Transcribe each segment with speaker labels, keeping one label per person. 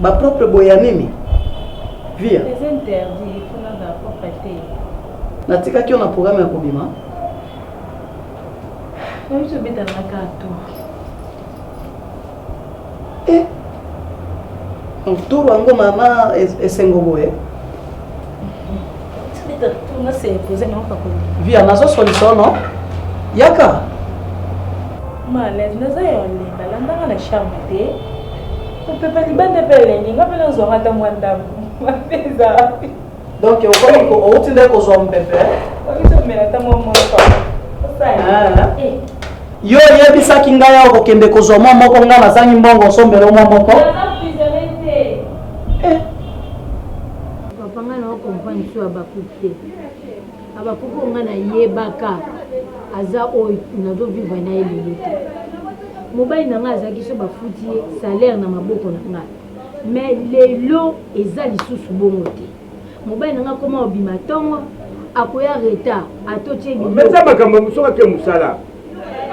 Speaker 1: bapropre boye ya nini via
Speaker 2: natikaki
Speaker 1: yo na programe ya kobima
Speaker 2: Eh, moturu
Speaker 1: yango mama esengo boye
Speaker 2: via nazo solisono
Speaker 1: yaka
Speaker 2: malaise naza ya olenga landanga na charme te opepa libanda mpe elengi nga mpe nazwanga ata mwa ndambo mabe eza wapi Donc
Speaker 1: okomi ko outi nde kozwa
Speaker 2: mopepe. Okomi komela ata mwa
Speaker 1: mwa osala. Yo oyebisaki ngai awa kokende kozwa mwa moko ngai nazangi mbongo osombela mwa moko.
Speaker 3: Papa ngai na okomprendre so abakuki te. Abakuki oyo ngai nayebaka aza oyo nazovivre na ye lelo te. Mobali na ngai azalaki so bafuti ye salaire na maboko na ngai. Mais lelo eza lisusu bongo te mobali na nga akoma obima tongo akoya retard atotie biloko mais eza makambo ya mosoki ake
Speaker 4: mosala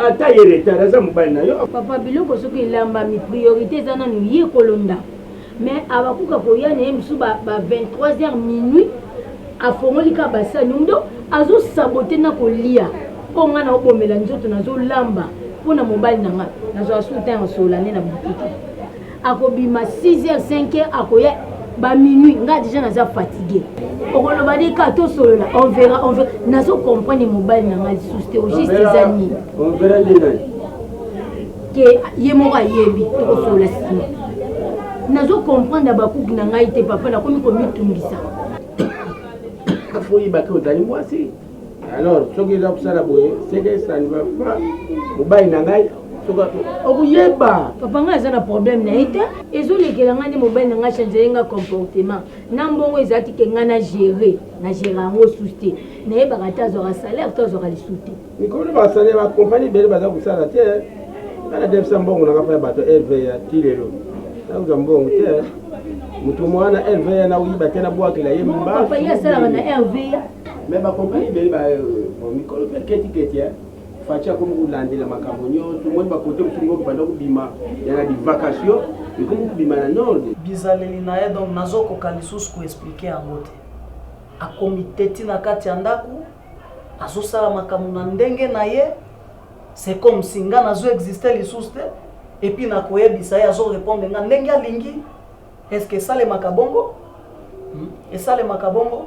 Speaker 4: ata ye retard aza mobali na yo papa biloko soki
Speaker 3: elambami priorité eza nanu ye kolo ndako mais abakuka koya na ye mosusu ba, ba 23 heures minuit afongoli kaka basani omi donc azosabote na kolia mpo ngai naobomela nzoto nazolamba mpo na mobali na ngai nazwaka soutien ya solane na boutique akobima 6h 5h akoya ba minuit nga deja naza fatigue okoloba nde ka tosolola on verra on verra nazo comprendre mobali na nga lisusu te ogiste eza nini
Speaker 4: ke
Speaker 3: ye moko ayebi tokosolola nsima nazo comprendre bakuki na ngai te papa nakomi komitungisa
Speaker 4: afoyibaki ozali mwasi alors soki eza kosala boye seke ça ne va pas mobali na ngai okuyeba papa ngai
Speaker 3: aza na problème na ye te ezolekela ngai nde mobali na ngai changele ngai comportement na mbongo ezalaki ke ngai na gere na gere yango susu te nayebaka te azwaka salaire to azwaka lisu te mikolo basale
Speaker 4: bakompani bele baza kosala te ana defisa mbongo nanga mpai bato lva ti lelo nakozwa mbongo te moto mwana lva na oyiba te nabwakela ye mbasi asalaka na
Speaker 3: lva Mais ba compagnie
Speaker 4: ebele ba bon mikolo pe keti keti hein. Fatshi akomi kolandela makambo nyonso moi ba kote mosusu ngo banda kobima ya na bivakasio ekomi kobima na nord bizaleli na ye donc
Speaker 1: nazokoka lisusu koexplike yango te akomi teti na kati ya ndako azosala makambo na ndenge na ye c'est comme si nga nazo existe lisusu te epuis nakoyebisa ye azorepondre nga ndenge alingi est ce que esalemaka bongo hmm? esalemaka bongo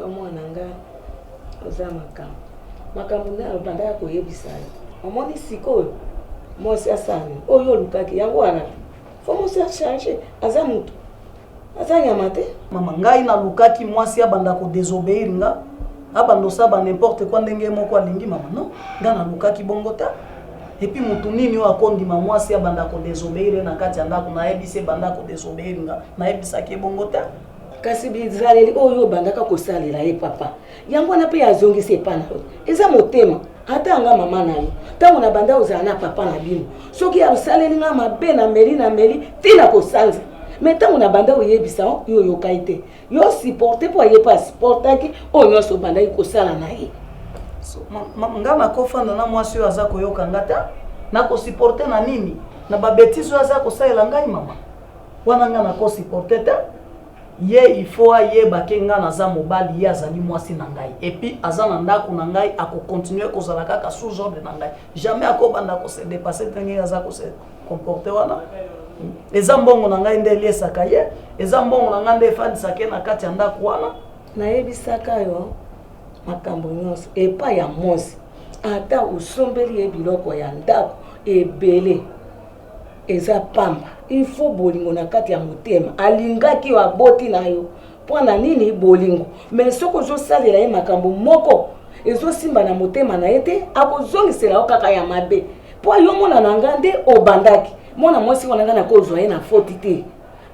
Speaker 5: Yo mwana nga oza makambo makambo nde abandaka koyebisa yo omoni sikoyo mwasi asani oyo olukaki yango wana fo mwasi achange aza motu aza nyama te mama ngai nalukaki
Speaker 1: mwasi abanda kodesobeir nga abanda osala ba n'importe quoi ndenge ye moko alingi mama non nga nalukaki bongo ta epuis motu nini oyo akondima mwasi abanda kodesobeire na kati ya ndako nayebisi ebanda kodesobeire nga nayebisaki ye bongo ta kasi bizaleli
Speaker 5: oyo obandaka kosalela ye papa yango wana mpe azongisi epai na yo eza motema ata yanga mama na yo ntango na banda ozala na papa na bino soki asaleli nga mabe na meli na meli ntina kosanza me ntango na banda oyebisa yo oyokaki te yo supporte mpo aye mpe asupportaki oyo nyonso obandaki kosala na ye
Speaker 1: nga nakofanda na mwasi oyo aza koyoka nga ta nakosupporte na nini na babetise oyo aza kosalela ngai mama wana nga nakosupporte te ye ifo ayebake ngai naza mobali ye azali mwasi na ngai epuis aza na ndako na ngai akokontinue kozala kaka sous ordre na ngai jamais akobanda kose depasse ndenge aza kose comporte wana eza mbongo na ngai nde eliesaka ye eza mbongo na ngai nde efandisaka ye na kati ya ndako wana nayebisaka
Speaker 5: yo makambo nyonso epai ya mosi ata osombeli ye biloko ya ndako ebele eza pamba il faut bolingo na kati ya motema alingaki yo aboti na yo mpo na nini bolingo me soki ozosalela ye makambo moko ezosimba na motema na ye te akozongisela yo kaka ya mabe mpo yo mwana na nga nde obandaki mwana mwasi wana nga nakozwa ye na foti te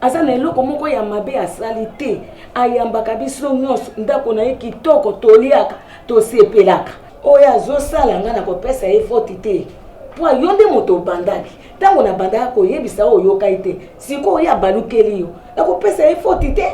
Speaker 5: aza na eloko moko ya mabe asali te ayambaka biso nyonso ndako na ye kitoko toliaka tosepelaka oyo azosala nga nakopesa ye foti te mpo yo nde moto obandaki ntango nabandaka koyebisa oyo oyokai te sikoyo oyo abalukeli yo nakopesa ye foti te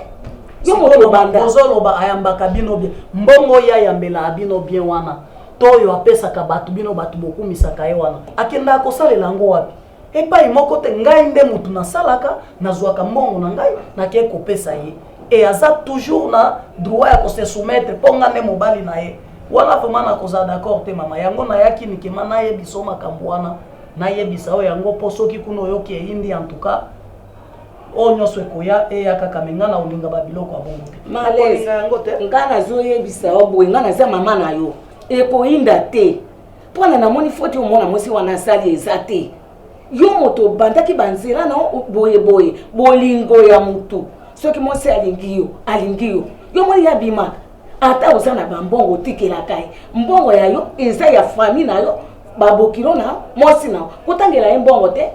Speaker 5: yo moto
Speaker 1: obanda ozoloba ayambaka bino bien
Speaker 5: mbongo
Speaker 1: ye ayambelaka bino
Speaker 5: bien
Speaker 1: wana To oyo apesaka bato, bino bato bokumisaka ye wana. Akendaka kosalela yango wapi? Epai moko te. Ngai nde moto nasalaka, nazwaka mbongo na ngai, nakei kopesa ye. Et aza toujours na droit ya ko se soumettre mpo ngai nde mobali na ye. Wana vraiment nakozala d'accord te mama. Yango nayaki mikema nayebisa yo makambo wana, nayebisa yo yango mpo soki kuna oyoki eyindi en tout cas, oyo nyonso ekoya eya kaka me ngai nakolinga babiloko ya bongo te nakolinga yango te
Speaker 5: ngai
Speaker 1: nazoyebisa
Speaker 5: yo boye ngai naza mama na yo ekoyinda te mpona namoni foti omona mwasi wana asali eza te yo moto obandaki banzela na boye boye bolingo ya motu soki mwasi alingi yo alingi yo yo moni ya bima ata oza na bambongo otikelaka ye mbongo ya yo eza ya fami na yo babokilo na mwasi na yo kotangela ye mbongo te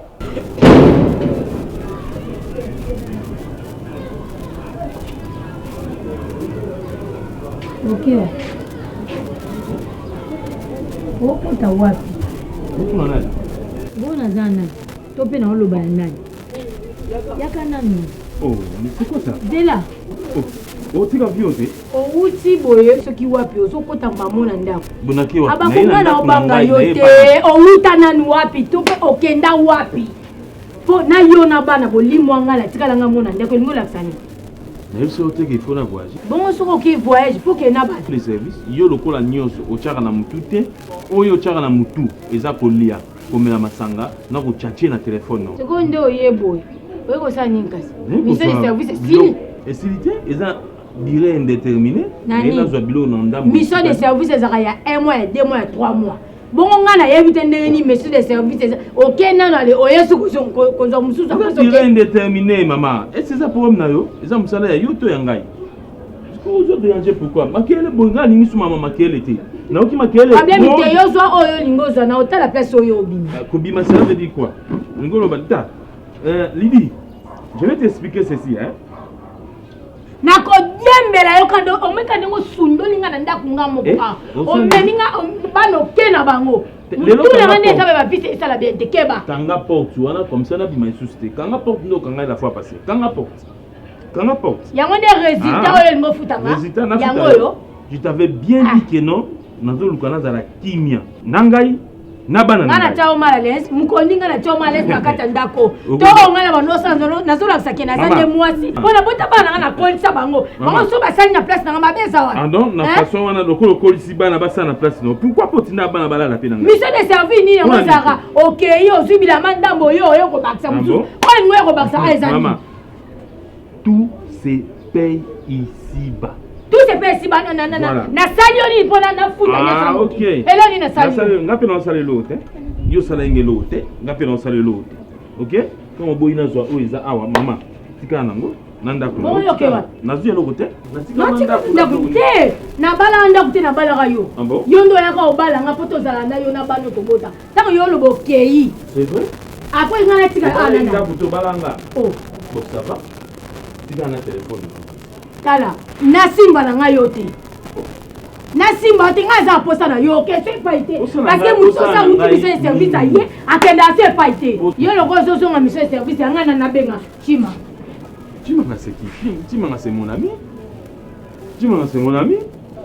Speaker 3: bokilo okota wapi
Speaker 4: bona za
Speaker 3: nani to mpe naoloba ya nani yaka nanu
Speaker 4: oh, dela
Speaker 3: oh,
Speaker 4: otika vio te owuti boye
Speaker 3: soki wapi ozokota mamo na ndako abakoka na
Speaker 4: obanga yo
Speaker 3: te owuta nanu wapi to mpe okenda wapi mpo na yo na bana bolimwa ngai natikala ngai mona ndeko elingi olakisa nini nayebi soki
Speaker 4: oteki ifo na voyage bongo soki oki
Speaker 3: voyage mpo kee na bato le service yo lokola
Speaker 4: nyonso otyaka na motu te oyo otyaka na motu eza kolia komela masanga na ko tchatche na telephone no. Sikoyo nde oye boye
Speaker 3: oye kosala nini kasi? Ministère du service esili? Esili te
Speaker 4: eza durée indéterminée. Nani? Nazwa biloko na ndambo. Mission de service ezaka
Speaker 3: ya 1 mois ya 2 mois ya 3 mois. bongo ngai nayebi te ndenge nini monsieur de service eza oke nano ale oyesu kozwa mosusu indéterminé
Speaker 4: mama esi eza problème na yo eza mosala ya yo to ya ngai ozoderange pourquoi makele boye ngai alingi sumama makele te nayoki makele problème te yo zwa
Speaker 3: oyo olingi ozwa na otala place oyo obima ah, kobima cela veut dire
Speaker 4: quoi olingi oloba ta euh, lidi je vais t'expliquer ceci hein
Speaker 3: nakodiembela yo kando omeka ndenge osundoli nga na ndako nga moko eh, ah, omemi nga bana oke na bango mutuna nga nde eza be bapisa esala bien te keba kanga porte wana
Speaker 4: comme ça nabima lisusu te kanga porte nde okangai la fois passé kanga porte kanga porte yango nde résultat ah.
Speaker 3: oyo elingi ofutanga yango oyo
Speaker 4: je
Speaker 3: t'avais bien
Speaker 4: ah. dit que non nazoluka nazala kimia na ngai na bana nga natya yo mal à l'aise
Speaker 3: mokondi nga natya yo mal à l'aise na kati ya ndako to oyo nga na banosa nazolakisa ke naza nde mwasi mpo na bota bana nga nakolisa bango bango so basali na place na nga mabe eza wana donc na façon wana
Speaker 4: lokola okolisi bana basala na place nao pourquoi mpo otinda bana balala mpe na nga mission de service nini yango
Speaker 3: ezalaka okei ozwi bilama ndambo oyo oyo kobakisa mosusu oyo ningo ya kobakisa eza nini
Speaker 4: tout se paye ici bas tout se paye ici
Speaker 3: bas na na na na sali yo nini pona na futa ah, nyonso yango okay. elo
Speaker 4: nini na sali
Speaker 3: yo nga pe na sali lo te
Speaker 4: yo sala nge lo te nga pe na sali lo te ok kama boyi na zwa oyo eza awa mama tikala nango na ndako nazwi
Speaker 3: eloko te
Speaker 4: ndako
Speaker 3: te nabalaka ndako te nabalaka yo ah yo nde oyaka obala nga mpo tozala na yo na bana tobota Tango yo lobo keyi. C'est
Speaker 4: vrai? Après nga na tika
Speaker 3: ah nana. Ndaku to balanga.
Speaker 4: Oh. Bon ça
Speaker 3: va?
Speaker 4: Tika na téléphone. Tala,
Speaker 3: na simba na nga yo te. nasimba te ngai aza aposa na yo okese epai te parceke motu osa mutu biso ya service aye akende ase epai te yo loko ozozonga miso ya service ya ngai na nabenga cima cima
Speaker 4: nase kifi cima nase mon ami Tima na sengo na mi.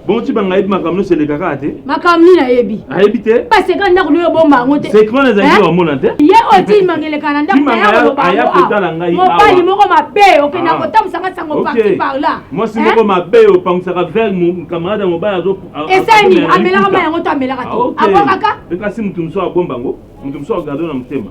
Speaker 4: Bon tima ngai bi makambo se leka kaka te. Makambo nini ayebi?
Speaker 3: Ayebi te. Ba seka ndako
Speaker 4: loyo
Speaker 3: bomba yango te. Seka na zangi wa mona
Speaker 4: te. Ye o tima ngeleka
Speaker 3: na ndako ya ko ba. Aya ko tala ngai. Mo
Speaker 4: pali moko mabe
Speaker 3: oke na ko tamsa ka sango parti par là. Mo si moko mabe
Speaker 4: o pamsa ka vers mon camarade mo ba zo. Esani amela
Speaker 3: ka yango to amela ka te. Aboka ka. Kasi mutu mso
Speaker 4: abomba ngo. Mutu mso agado na mutema.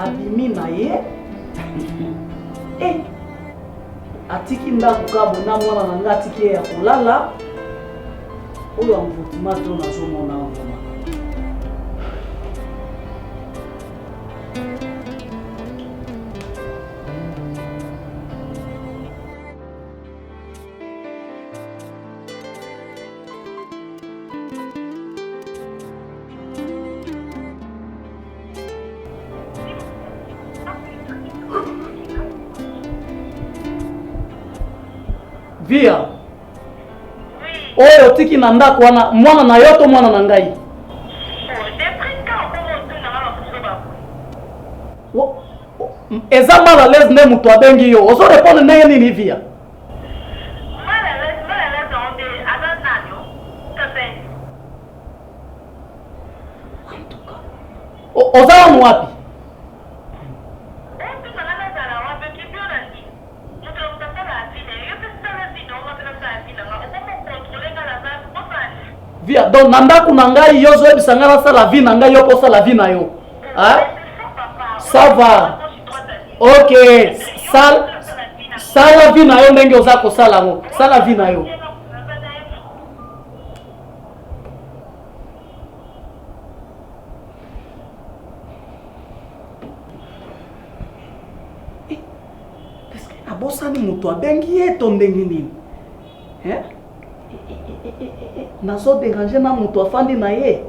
Speaker 1: abimi na ye eh, atiki ndako kabo na mwana na ngai atiki ye ya kolala oyo amvutuma to nazomona vraimen via oyo otiki na ndako wana mwana na yo to mwana na ngai eza mal à l'aise nde moto abengi yo ozo répondre ndenge nini via oza wanu wapi Mutu ya mutu asala avis naye yo pe sala vie nao nga pe nasala avis na nga okomi ko controler nga na batu bosala nini? Via donc na ndaku na ngai yo ozoyebisa ngai nasala vie na ngai yo pe osala vie na yo hein ça va ok sal sala vie na yo ndenge oza kosala yango sala vie na yo abosani moto abengi ye to ndenge nini eh? nazo derange na moto afandi na ye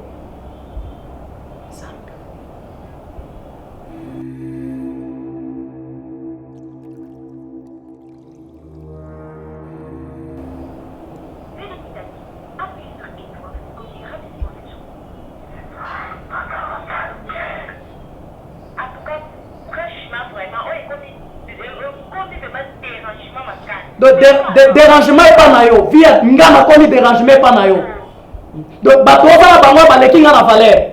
Speaker 1: En tout cas franchement vraiment oyo ekomi ekomi vraiment derangement makasi. Donc de, de, derangement epa na yo vie nga nakomi derangement epa na yo donc bato oza na bango baleki nga na valeur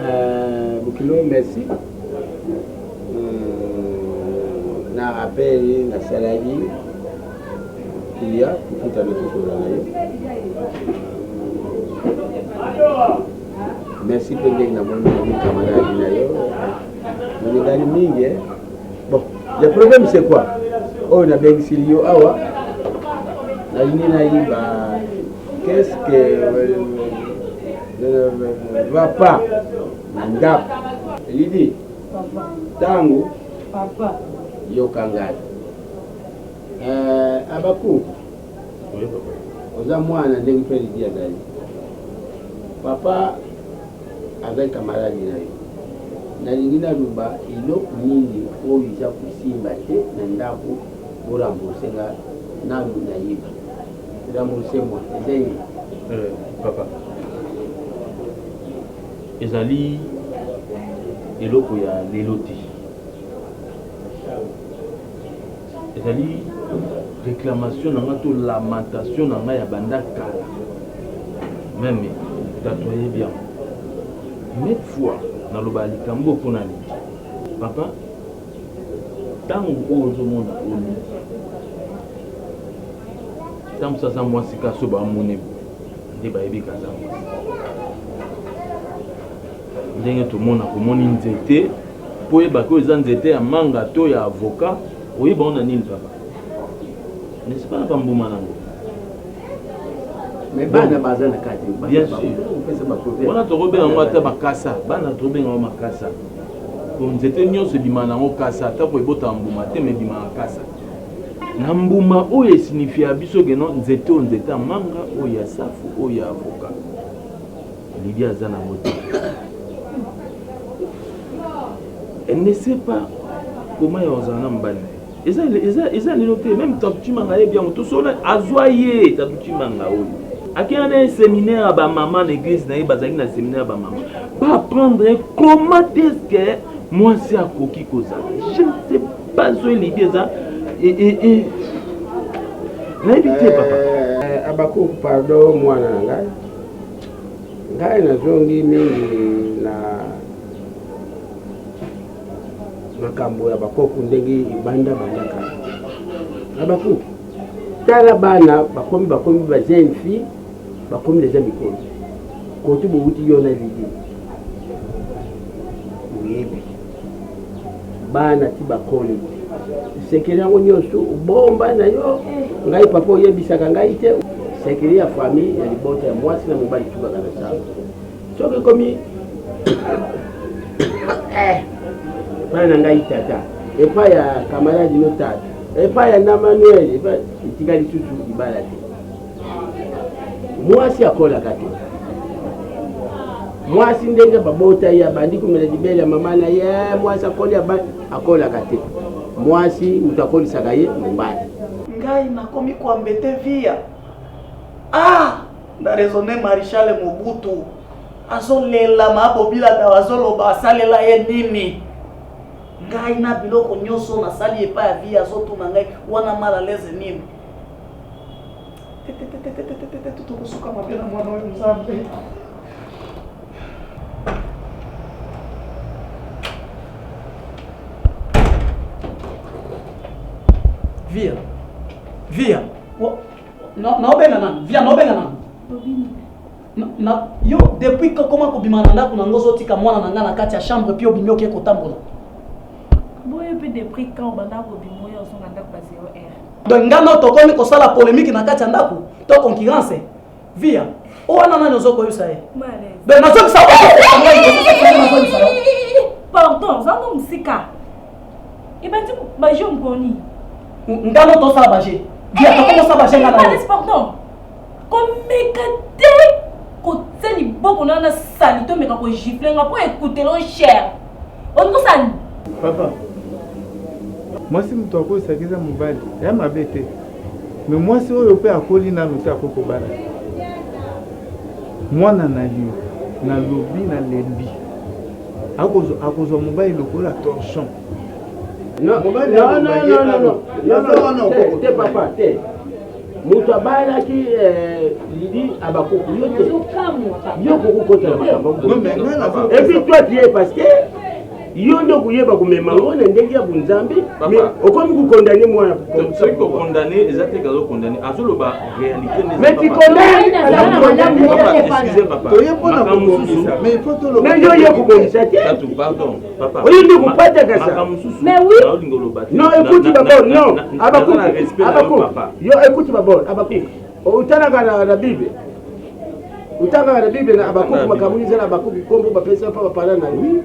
Speaker 4: Euh, Bokilo, merci. Hmm, na rappel nasalaki kilia kofuta nakosola na yo merci mpe ndenge namoni ami camarade na yo molingani mingi eh. bon le problème c'est quoi oyo nabengisili yo awa nalingi nayiba qu'est ce que euh, va pas na ndako elidi ntango yoka ngai eh, abaku oza mwana ndenge mpe elidi azali papa azali kamaradi na yo nalingi naloba eloko nini oyo eza kosimba te na ndako borambosenga nanu nayiba Rembourser moi eza ye. Euh, papa
Speaker 6: ezali eloko ya lelo te ezali réclamation na nga to lamentation na nga ya banda kala meme tatoye bien net fois naloba likambo mpo na nini papa Tangu oyo ozo mona Oly ata mususu aza mwasi kaka soki ba moni boye nde ba yebi ke aza mwasi. Ndenge to mona ko moni nzete po oyeba ke oyo eza nzete ya manga to ya avocat oyeba yango na nini papa? N'est ce pas na ba mbuma nango? Mais
Speaker 4: bana baza na kati. Bien
Speaker 6: sur. Wana toko benga yango ata makasa bana to benga yango makasa. Po nzete nionso ebimaka na yango kasa, ata ko ebotaka mbuma te mais ebimaka kasa. Na mbuma oyo e signifiaka biso que non nzete oyo nzete ya manga, oyo ya safu, oyo ya avocat. Lydie aza na yango te. Elle ne sait pas comment ya kozala na mobali na ye. eza eza eza lelo te meme tatuchimanga ayebi yango tosolola azwa ye tatuchimanga oyo akenda na ye seminaire ya bamama na eglise na ye bazalaki na seminaire ya bamama baapprendre ye comment est ce que mwasi akoki kozala je ne sais pas oyo elidi eza nayebi te papa eh, abako pardon
Speaker 4: mwana na ngai ngai nazongi mingi na makambo ya bakoko ndenge ebanda banda kala na baku tala bana bakomi bakomi ba jeune fille bakomi deja mikolo kotu bowuti yo na lidi oyebi bana ti bakoli sekele yango nyonso obomba na yo ngai papa oyebisaka ngai te sekele ya famille ya libota ya mwasi na mobali tubaka na sala soki ekomi eh, epai na ngai tata epai ya kamaradi no tata epai ya na manuel epai etika lisusu libala te mwasi akolaka te mwasi ndenge babota ye abandi komela libele ya mama na ye mwasi akoli akolaka te mwasi moto akolisaka ye mobali ngai
Speaker 1: nakomi koambete via ah! Na raisonne Marechal Mobutu azo lela ma bobila dawa azo loba asalela ye nini? Ngai na biloko nyoso na sali epa ya vie azo tuna ngai wana mal à l'aise nini? Tokosuka mabe na mwana oyo Nzambe. Via. Via. Na na obenga na via na obenga na. Tobini. Na, na yo depuis ko koma kobima na ndako na ngo ozotika mwana na nga na kati ya chambre puis obimi oke kotambola.
Speaker 2: Boye pe depuis quand banda kobima oyo ozonga ndako ba 0 heure. Donc nga no
Speaker 1: tokomi kosala polemique na kati ya ndako to concurrence via o wana nani ozo koyebisa ye. Donc nazobisa. Pardon,
Speaker 2: zango musika. ebandi ba jeux mponi nga no
Speaker 1: tosala ba jeux dia tokomosala ba jeux nga na yo pardon
Speaker 2: komeka te kotia liboko na na sali tomeka kogifle nga mpo ekutelo cher olingi kosala papa
Speaker 7: mwasi moto akolisaki eza mobali ya mabe te me mwasi oyo mpe akoli nano te akoki kobala mwana na yo nalobi nalembi akozwa mobali lokola torchon
Speaker 4: te papa te moto abalaki eh, lidi abakuku yo te yo kokokotela makambo epuis toi tu es parce que yo nde okuyeba komema yango na ndenge ya bonzambe okomi kokondane mwana soki kokondane
Speaker 6: eza te kazokondane azoloba Mais tu connais
Speaker 4: mais yo ye kobongisa te oyo nde kopataka sa non ekuti babor non abakuk abakuk yo ekuti babor abakuk otanaka na bible otangaka na bible na abakuk makambo ezala abakuk nkombo bapesa mpa bapala na yo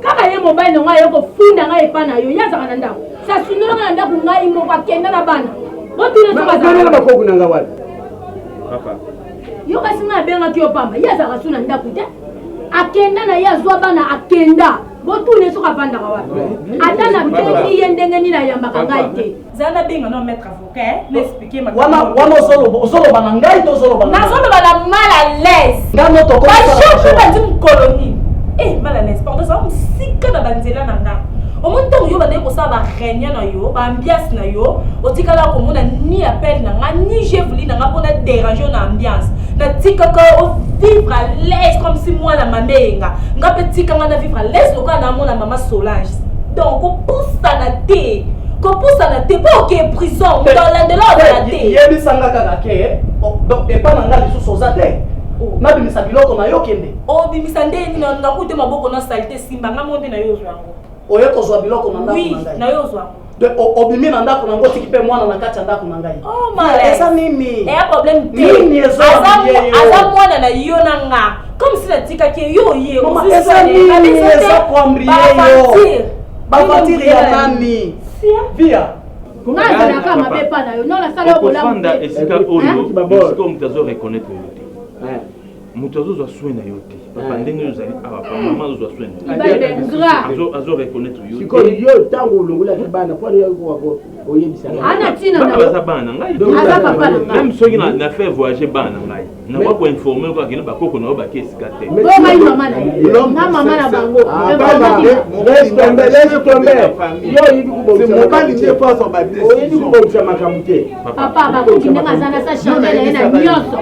Speaker 4: kaka
Speaker 3: ye mobali na ngai aye kofunda ngai epai na yo ye azalaka na ndako sasundola ngai na ndako ngai moko akenda na bana botunasokazalana bakoku na
Speaker 4: ngai wapi
Speaker 6: yo
Speaker 3: kasi ngai abengaki yo pamba ye azalaka su na ndako te akenda na ye azwa bana akenda botune soki avandaka wapi ata nabengi ye ndenge nini ayambaka ngai te zala nabenga no maître
Speaker 2: wana
Speaker 1: ozoloba na ngai to ozoloba nazoloba na mal à
Speaker 2: l'aise ngai moto okobajour
Speaker 1: bandi
Speaker 2: mokolo nini e eh, mal à l'aise pardon ezala mosika na banzela na ngai omoni ntango yo bandaki kosala bareunion na yo baambiance na yo otikala komona ni appel na ngai ni je vouli na ngai mpo na dérange na ambiance natikaka ovivre à l'aise comme si mwana mama eyenga ngai mpe tika ngai na vivre à l'aise lokola namona mama solange donc kopusana te kopusana te mpo oke prison moto alandela ozala te yebisanga kaka ke
Speaker 1: donc epa na nga lisusu oza te oh. nabimisa biloko na yo kende obimisa oh, nde nini
Speaker 2: nakute maboko na salite simba nga mo nde na yo ozwa yango oye kozwa biloko
Speaker 1: na ndako na ngai na yo ozwa yango
Speaker 2: obimi
Speaker 1: na ndako nango otiki mpe mwana na
Speaker 2: kati ya ndako na
Speaker 1: ngai oh, eza
Speaker 2: nini eh, problème
Speaker 1: te aza
Speaker 2: mwana na yo na nga comme si natikaki ye yo oye eza nini
Speaker 1: eza koambrie yo bavatire ya nani via nazalaka
Speaker 3: mabe epa na yo no nasala
Speaker 6: yo
Speaker 3: bolamu
Speaker 6: esika oyo
Speaker 3: esika
Speaker 6: oyo
Speaker 3: moto
Speaker 6: azo reconnaître yo te moto azozwa soin na yo te papa eh. ndenge ozali awa ah, mama azozwa soin azo reconnaître yo sikoyo yo ntango
Speaker 4: olongolaki bana mpo
Speaker 3: oyebisaaza bana na
Speaker 6: ngaimeme soki na fait voyage bana na ngai nakoki koinforme kaka kino bakoko na yo baki esika te mobali nde
Speaker 3: fo azwa badesizio
Speaker 4: oyebikobongisa makambo te papa bakuti ndenge
Speaker 3: aza na sa chandele ye na nyonso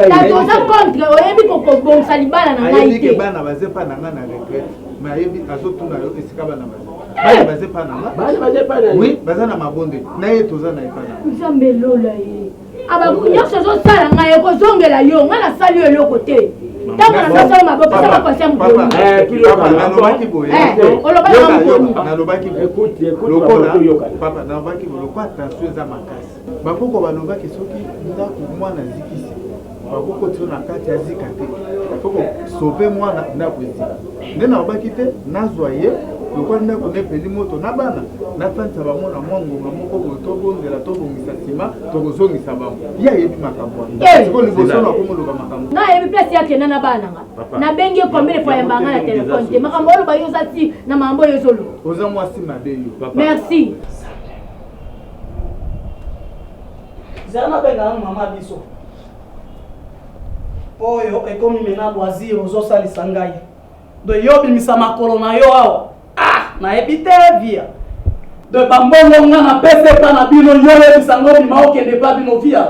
Speaker 3: kasi oza contre oyebi kokobongisa libala na ngai te bana baze pa na ngai na
Speaker 7: retraite mais ayebi azotuna yo esika bana baze bana baze pa na ngai oui baza na mabonde na ye toza na epa na nzambe elola ye
Speaker 3: abaku nyonso ozosala ngai ekozongela yo ngai nasali yo eloko te ntango nasosala maboko eza bakonse
Speaker 7: mokololobaki boye lokola tension eza makasi bakoko balobaki soki ndako mwana azikisi bakokotiso na kati azika te fo kosope mwana ndako ezika nde nalobaki te nazwa ye lokola ndako nepeli moto na bana nafandisa bango na mwa ngonga moko boye tobondela tobongisa nsima tokozongisa bango ye ayebi makambo wana eh! siko liboso na komoloba makambo nga ayebi place yakenda na
Speaker 3: bana nga nabengi ye combien de fois yamba nga na telefone te makambo oloba yo oza ti na makambo oyo ezoloba oza mwasi mabe
Speaker 7: yo merci
Speaker 1: zala nabengaka mama biso oyo ekomi mena loisir ozosalisa ngai do yo obimisa makolo na yo awa ah nayebi te via de bambongo nga na pese epa na bino yo yebisa ngo bima okende epa bino via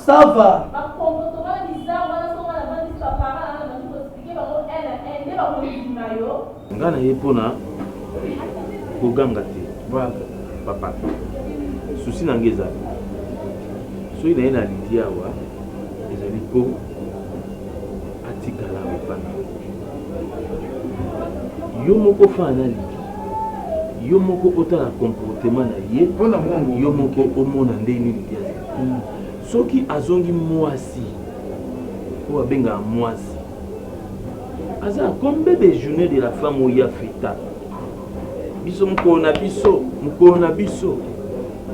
Speaker 1: ça va
Speaker 6: nga na ye mpona koganga te papa susi na nga ezali soki naye na lidi awa ezali mpo atikala awa epai na yo yo moko fana na liki yo moko otala comportement na ye mpona mwango yo moko omona nde nini ya soki azongi mwasi oyo abengaka mwasi aza comme bebe journée de la femme oyo ya feta biso mokolo na biso mokolo na biso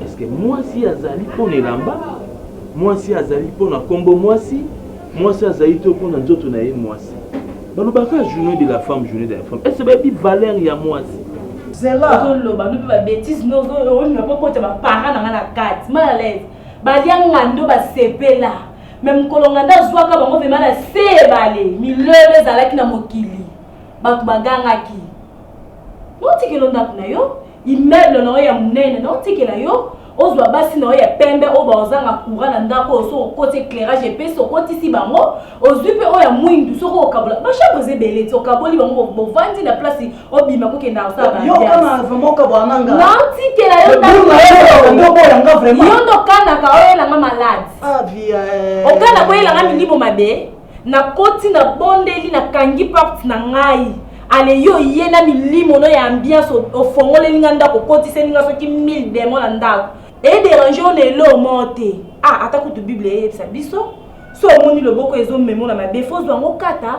Speaker 6: eske mwasi azali mpona elamba Mwasi azali mpo na nkombo mwasi, mwasi azali to mpo na nzoto na ye mwasi. Balobaka journee de la femme, journee de la femme. Est-ce que bayebi valeur ya mwasi? Zela. Ozo
Speaker 2: loba mpe ba bêtises, mais ozo ozo na mpo kota ba parents na nga na kati. Mal à l'aise. Balia ngando ba sepela. Mais mokolo ngando azwaka bango vraiment na se ebale. Milele ezalaki na mokili. Bato bagangaki. Notikelo ndako na yo, immeuble na yo ya monene, notikela yo, ozwa basi na yo ya pembe oyo baozanga courant na ndako oyo soki okoti éclairage epesi okotisi bango ozwi mpe oyo ya mwindu soki okabola bachambre eza ebele ti okaboli bango bovandi na place obima kokenda kosalanaotikela yo ndokanaka oyelanga malade okanaka oyelanga milimo mabe Na koti na bondeli na kangi porte na ngai ale yo ye na milimo no ya ambiance ofongoleli nga ndako okotiseli nga soki 1000 demon na ndako e derange yo na eloo moo te ah ata kutu bible eyebisa biso so omoni loboko ezo memo na mabe fo zwa ngo kata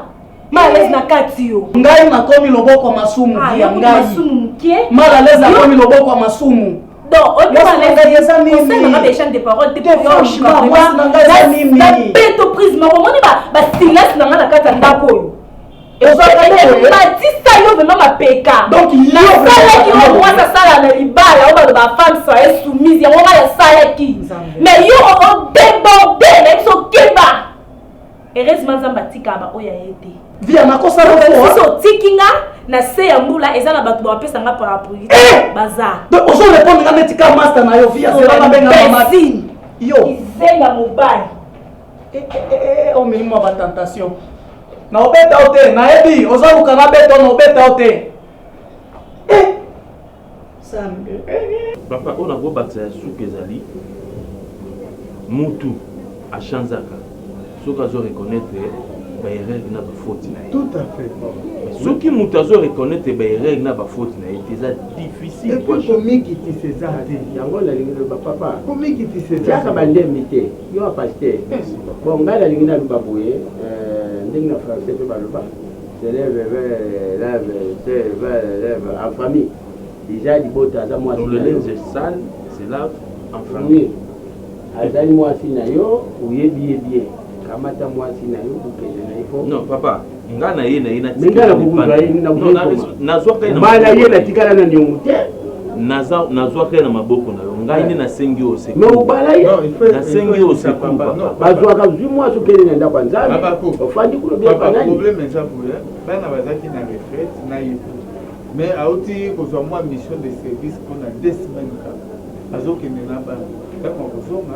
Speaker 2: malalezi na kati yo ngai nakomi loboko
Speaker 1: masumu ah, ya ngai masumu moke malalezi nakomi loboko masumu donc oyokosalaka
Speaker 2: baechange de parole te nabeto prise moko omoni basilence na ngai na kati ya ndako oyo batisa yo vraimen mapeka nasalaki oyo mwasi asala na libala oyo baloba femme soye soumise yango ngai nasalaki mais yo odeborde na biso keba Heureusement Nzambe atika ba oya ye te. Via makosa na fo.
Speaker 1: Sisi otiki nga
Speaker 2: na se ya mbula eza na bato bapesa nga parapluie. Eh! Baza. Donc ozo répondre nga
Speaker 1: neti ka master na yo via c'est ba benga mama.
Speaker 2: Yo.
Speaker 1: Izenga mobali.
Speaker 2: Eh eh eh, eh, eh omemi
Speaker 1: mwa ba tentation. Na obeta ote, na ebi ozo luka na beto na obeta ote. Eh!
Speaker 6: Papa oyo na kobakisa ya suka ezali mutu achanzaka soki azo reconnaitre ba erreur na ba faute na ye. Tout à fait.
Speaker 7: Soki mutu
Speaker 6: azo reconnaitre ba erreur na ba faute na ye eza difficile. Et puis komikitisa
Speaker 7: eza te. Yango nalingi na ba
Speaker 4: papa. Komikitisa eza. Tiaka
Speaker 7: ba ndembi te.
Speaker 4: Yo a pasteur. Bon ngai nalingi na loba boye euh, ndenge na français pe baloba. Celebe velebe celebe velebe en famille
Speaker 6: deja
Speaker 4: libota aza
Speaker 6: mwasi Tolele
Speaker 4: nze sale
Speaker 6: c'est love
Speaker 4: en famille azali mwasi na yo oyebi ye bien kamata mwasi na yo bokende na ye po non papa nga
Speaker 6: na ye na ye
Speaker 4: natikala
Speaker 6: na bana ye natikala na
Speaker 4: niongo te naza
Speaker 6: nazwaka ye na maboko na yo ngai nde nasengi yo oseki mais obala ye
Speaker 4: nasengi yo
Speaker 6: oseki papa bazwaka zwi
Speaker 4: mwasi okende na ndako ya nzambe ofandi kuna biapanani problème eza boye
Speaker 7: bana bazalaki na retraite na ye mais auti kozwa mwa mission de service mpona deux semaines kaka azokende na bana ntango akozonga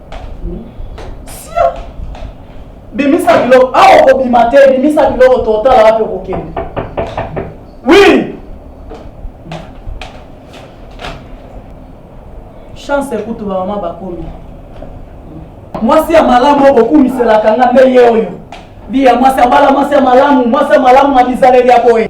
Speaker 1: Sia! Bimisa biloko, awa okobima te, bimisa biloko totala wapi okokende. Oui! Chance ekutu ba mama bakomi. Mwasi ya malamu okokumiselaka nga nde ye oyo. Bi ya mwasi abala mwasi ya malamu, mwasi ya malamu na bizaleli ya boye.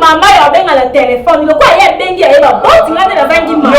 Speaker 2: mama ya obenga na telefone lokola ye abengi ya ye baboti ngai nde nazangi mama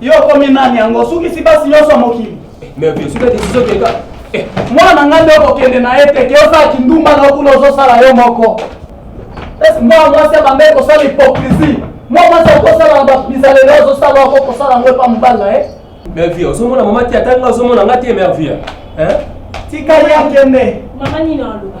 Speaker 1: Yo okomi nani yango osukisi basi nyonso ya mokili? Mais bien sûr, décision de gars. Eh, mwana na ngai nde okokende na ye te ke osala kindumba na okuna ozosala yo moko esi mwana mwasi abandaki kosala hypocrisie mwa mwasi akosala na babizaleli ozosala oko kosala yango epa mobali na ye mervie ozomona mama
Speaker 8: te ata nga ozomona nga te mervie
Speaker 1: tika ye akende mama nini aloba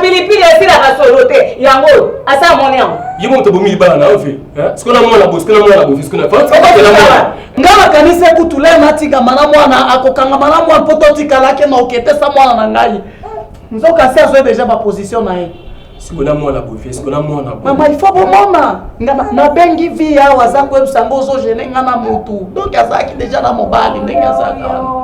Speaker 8: pilipili
Speaker 1: esilaka solo
Speaker 5: te yango asa moni yango ye moto bomi libala
Speaker 8: na yo fe sikoyo na mwana boye sikoyo na mwana boye sikoyo na nga
Speaker 1: makanisi ekutu le natikama na mwana akokangama na mwana mpo totikalaki na oketesa mwana na ngai nzoka si azwi deja baposition na ye siko na mwana
Speaker 8: boye siko na mwana boye mama ifo bomona
Speaker 1: nga nabengi vi awa aza koyebisa ngo ozogene nga na motu donk azalaki deja na mobali ndenge azalaka wana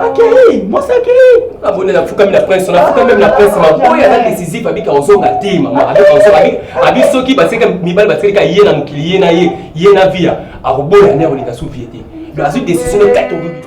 Speaker 1: akei mwasi akei namoni nafukami
Speaker 8: na prince nafukami meme na prince maboye aza décisif abika ozonga te mama abika ozonga abi soki baseka mibali basekeka ye na mokili ye na ye ye na via akoboya nde akolinga su vie te donc azwi décision ne kati obibi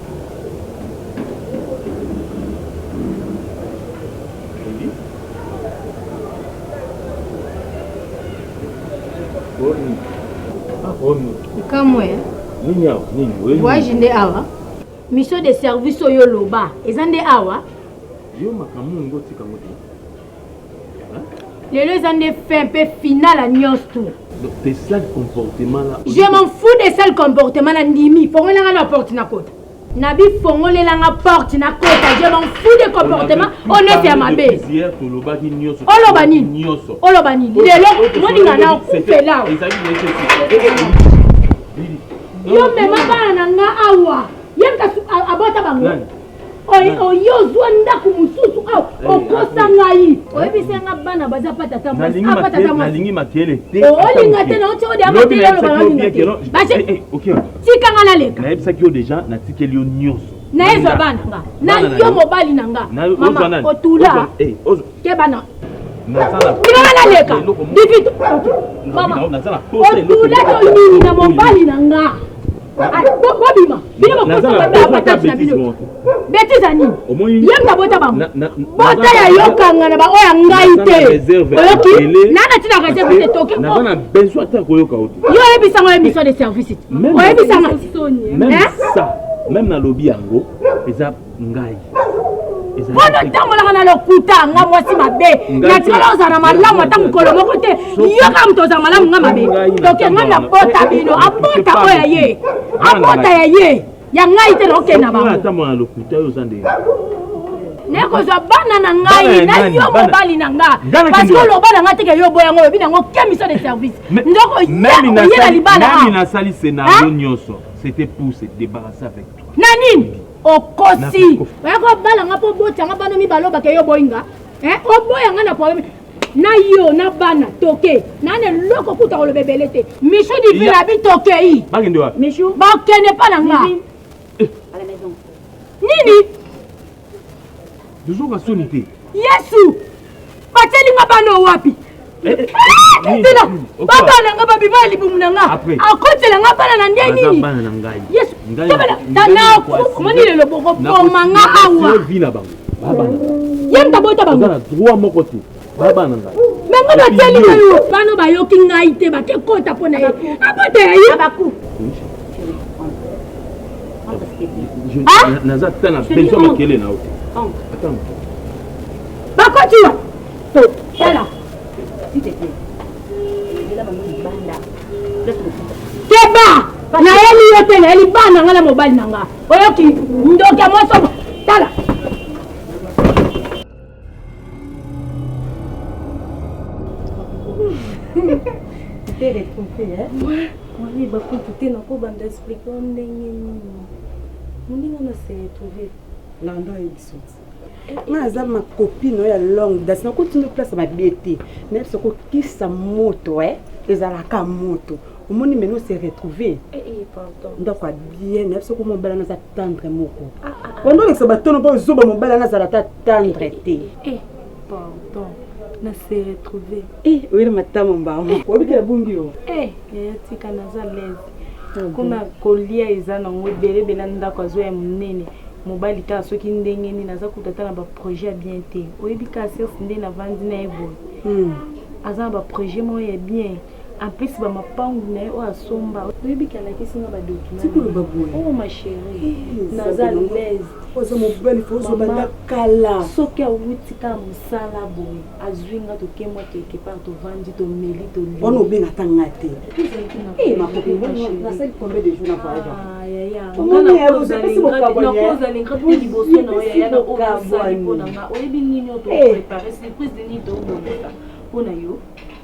Speaker 3: kamwe
Speaker 6: waji nde awa
Speaker 3: mission de service oyo oloba eza nde awa yo makambo
Speaker 6: olingi otika ngo te
Speaker 3: lelo eza nde fin mpe final ya nyonso tu
Speaker 6: je m'en fous de
Speaker 3: sale comportement na ndimi fongolelanga na porte na kota na bifongolelanga porte na kota je m'en fous de comportement oyo neti ya mabe
Speaker 6: oloba nini
Speaker 3: oloba nini lelo moninga na okufela yo mema bana na nga awa ye abota bango oyo ozwa ndako mosusu awa oh, eh, okosa ngai eh. oyebisa nga bana baza pa tata mwasiapa tata mwasinalingi makele te olinga te naotyeodeaotika nga
Speaker 6: naleka
Speaker 3: nayebisaki yo deja
Speaker 6: natikeli yo nyonso nayezwa bana
Speaker 3: nga na yo mobali na nga mama otula keba na ndima naleka divite otula tolini na mobali na nga bobima bino bakosaata na bino betiza nini ye mutu abota bango bota ya yokanga na baoyo ya ngai te oyoki nana tina reserve te
Speaker 6: toke yo oyebisanga oyo mission
Speaker 3: de service te oyebisanga
Speaker 6: même nalobi yango eza ngai
Speaker 3: wana otambolaka na lokuta nga mwasi mabe natikala ozala na malamu ata mokolo moko te yoka moto ozala malamu nga mabe toke nga nabota bino abota oyo ya ye abota ya ye ya ngai te naokende na bango nakozwa bana na ngai na yo mobali na nga parce que oloba na nga teke yo oboya yango olobi na yango ke mission de service ndoko oyela
Speaker 6: libala
Speaker 3: nasali scenario
Speaker 6: nyonso c'était pour se débarrasser avec na nini
Speaker 3: okosi oya kobala nga mpo obota nga bana mibale obake yo oboyi nga eh, oboya nga na probleme na yo na bana toke nani eloko kuta koloba ebele te michu divina bi tokei
Speaker 6: bakende pa
Speaker 3: na nga eh. nini
Speaker 6: Tozoka soni te. Yesu!
Speaker 3: Batieli nga bana oyo wapi? Eh, eh, eh, tela baba na nga babima ya libumu na nga akotela nga
Speaker 6: bana
Speaker 3: na
Speaker 6: nde
Speaker 3: nini
Speaker 6: yesu omoni lelo bokoboma nga awa
Speaker 3: ye moto
Speaker 6: abota bango babana ngai me nga bateli
Speaker 3: na yo bano bayoki ngai te bake kota mpo na ye abota ya ye ah!
Speaker 6: naza ata na besoin makele na yo te ata
Speaker 3: moto bakoti wa to tala keba nayeli yo te nayeli bana na ngai na mobali na ngai oyoki ndoki ya mwasomo tala
Speaker 9: te retrouve hein? Ouais. Oui, bah quand tu es dans quoi bande expliquer on n'est ni ni. Mon dingo na se retrouver. Lando et
Speaker 10: bisous. nga aza ma copine oyo ya longue date nakotinda place ya mabe te nayebi soko kisa moto e ezalaka moto omoni maintenant se retrouver eh, eh,
Speaker 9: ndako ya bien
Speaker 10: nayebi soko mobala naza tendre moko ah, ah, ah. wanda olekisa batono mpo zoba mobala nazala ata tendre eh, te
Speaker 9: pardon na se retrouver oyeli matama
Speaker 10: mbango obikela bungi yo tika
Speaker 9: naza lese kuna kolia eza nango ebele ebele ndako azo ya monene mobali kaka soki ndenge nini aza kuta ata na baprojet ya bien te oyebi kasi nde navandi na ye boye hmm. aza na baprojet moko ya bien en plus ba mapangu na ye oyo asomba oyebi ke alakisi nga badokimaoyo oh, ma chérie naza
Speaker 10: laiseozobanda kala soki awuti
Speaker 9: kaka mosala boye azwi nga tokemwa quelque part tovandi tomeli toliwana obenga ata nga te
Speaker 10: liboso na oyo yaya na oyo azali mpo na nga oyebi nini oyo toprepare surprise nini toobongisa mpo na yo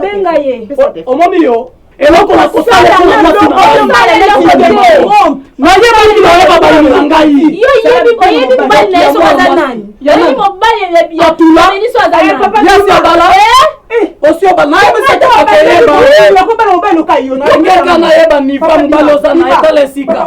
Speaker 10: benga ye
Speaker 9: omoni yo
Speaker 1: eloko na kosala naye balingi baye babaleli na ngai
Speaker 9: osiobalaaeekana yeba niva mobali oza na etala esika